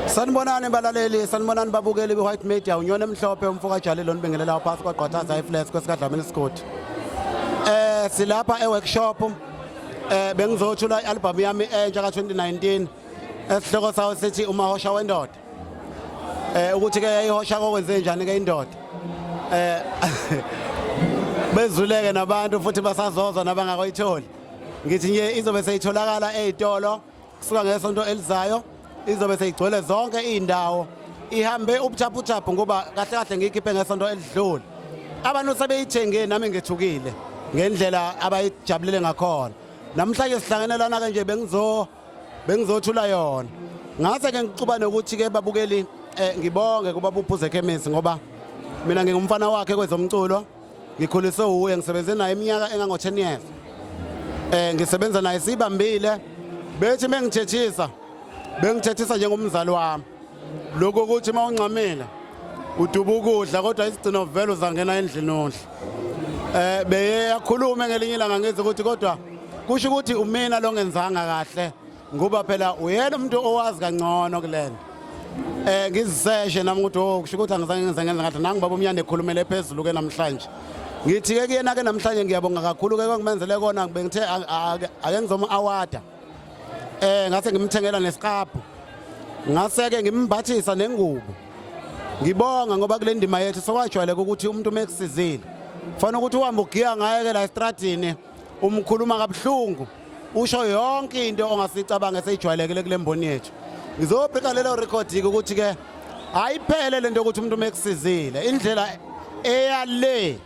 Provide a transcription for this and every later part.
sanibonani balaleli sanibonani babukeli be-white media unyona emhlophe umfoka jalile onibingelelayo phasi kwagqwathaza ifles kwesikadlamini isigodi um eh, silapha e-workshop um eh, bengizothula i-albhamu yami entsha ka-2019 esihloko sawo sithi umahosha wendoda um ukuthi-ke yayihosha kokwenze njani-ke indoda um bezuleke nabantu futhi basazozwa nabangakoyitholi ngithi nje izobe seyitholakala ey'tolo kusuka ngesonto elizayo izobe seyigcwele zonke iy'ndawo ihambe ubuchaphuchaphu ngoba kahle kahle ngiyikhiphe ngesonto elidlule abantu sebeyithenge nami ngethukile ngendlela abayijabulele ngakhona namhlanje sihlangene lana-ke nje bengizothula yona ngase-ke ngixuba nokuthi-ke babukeli um ngibonge kuba buphuze ekhemisi ngoba mina ngingumfana wakhe kwezomculo ngikhuliswe wuye ngisebenze naye iminyaka engango-10 years um ngisebenza naye siyibambile bethi uma ngithethisa bengithethisa njengomzali wami lokhu ukuthi uma ungxamile uduba ukudla kodwa isigcino vele uzangena endlini ondla eh beye yakhuluma ngelinye ilanga ngithi ukuthi kodwa kusho ukuthi umina lo ngenzanga kahle ngoba phela uyena umuntu owazi kangcono kulena eh ngiziseshe nami ukuthi oh kusho ukuthi angizange ngenze ngenza ngathi nangu baba umnyane ekhulumele phezulu ke namhlanje ngithi ke kuyena ke namhlanje ngiyabonga kakhulu ke kwangimenzele kona bengithe ake ngizoma awada eh ngase ngimthengela nesiqaphu ngase ke ngimbathisa nengubo ngibonga ngoba kule ndima yethu sokwajwayeleka ukuthi umuntu uma ekusizile fanele ukuthi uhambe ugiya ngaye ke la estradini umkhuluma kabuhlungu usho yonke into ongasicabange seyijwayelekile kule mboni yethu ngizobheka lelo record-ke ukuthi-ke ayiphele lento ukuthi umuntu mekusizile indlela eyale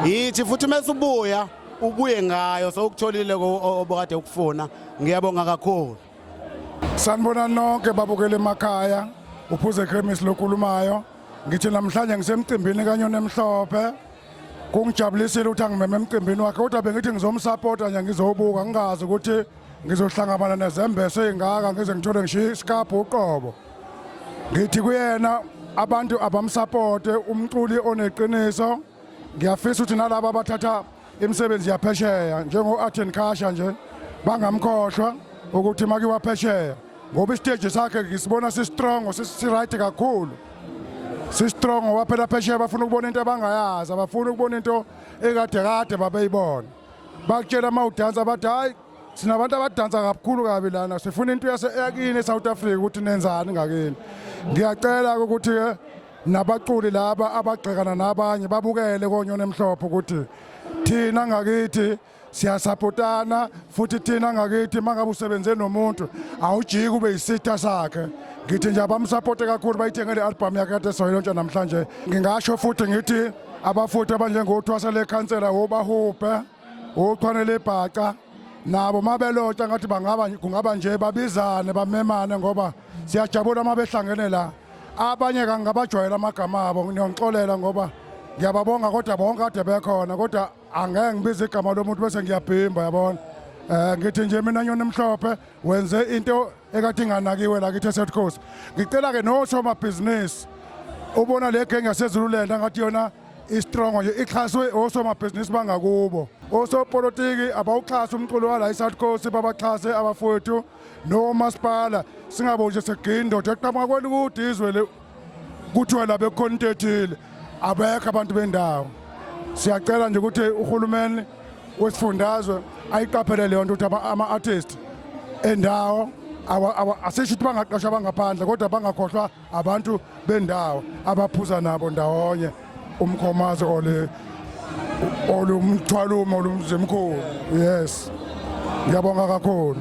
yithi futhi mesubuya ubuye ngayo sokutholile obokade ukufuna ngiyabonga kakhulu Sanibona nonke babukele emakhaya uphuze Kremis lokhulumayo ngithi namhlanje ngisemcimbini kanyona emhlophe kungijabulisile ukuthi angimeme emcimbini wakhe kodwa bengithi ngizomsapota nje ngizowubuka ngingazi ukuthi ngizohlangabana nezembeso ey'ngaka ngize ngithole ngishiye isikabhu uqobo ngithi kuyena abantu abamsapote umculi oneqiniso ngiyafisa ukuthi nalabo abathatha imisebenzi yaphesheya njengo-arten kasha nje bangamkhohlwa ukuthi make waphesheya ngoba isiteji sakhe ngisibona sisitrongo sisi-right kakhulu sisitrongo waphela phesheya bafuna ukubona into abangayazi abafuni ukubona into ekade kade babeyibona bakutshela uma udansa bathi hhayi sina abantu abadansa kakhulu kabi lana sifuna into yakini e-south africa ukuthi nenzani ngakini ngiyacela-ke ukuthi-ke nabaculi laba abagxekana nabanye babukele konyona emhlophe ukuthi thina ngakithi siyasapotana futhi thina ngakithi mangabe usebenze nomuntu awujiki ube yisitha sakhe ngithi nje abamsapote kakhulu bayithenge le album yakhe kade soyilontsha namhlanje ngingasho futhi ngithi abafuthi abanjengothwasa lekhansela wobahubhe uchwane lebhaca nabo mabelota ngathi bangaba kungaba nje babizane bamemane ngoba siyajabula uma behlangene la abanye kangabajwayela amagama abo ngiyonixolela ngoba ngiyababonga kodwa bonke kade bekhona kodwa angeke ngibize igama lomuntu bese ngiyabhimba yabona um ngithi nje mina nyoni emhlophe wenze into ekade inganakiwe la kithi eset coast ngicela-ke nosomabhizinisi ubona le genge yasezululand angathi yona istrongo nje ixhaswe osomabhizinisi bangakubo osopolitiki abawuxhasa umculo wala eSouth Coast babaxhase abafowethu nomasipala singabo nje segindoda eqhamuka kwelikude izwe le kuthiwa la bekhona into ethile abekho abantu bendawo siyacela nje ukuthi uhulumeni wesifundazwe ayiqaphele leyo nto ukuthi ama-artist endawo asisho ukuthi bangaqashwa bangaphandle kodwa bangakhohlwa abantu bendawo abaphuza nabo ndawonye umkhomazi ole olumthwalumo olumzimkhulu yes ngiyabonga kakhulu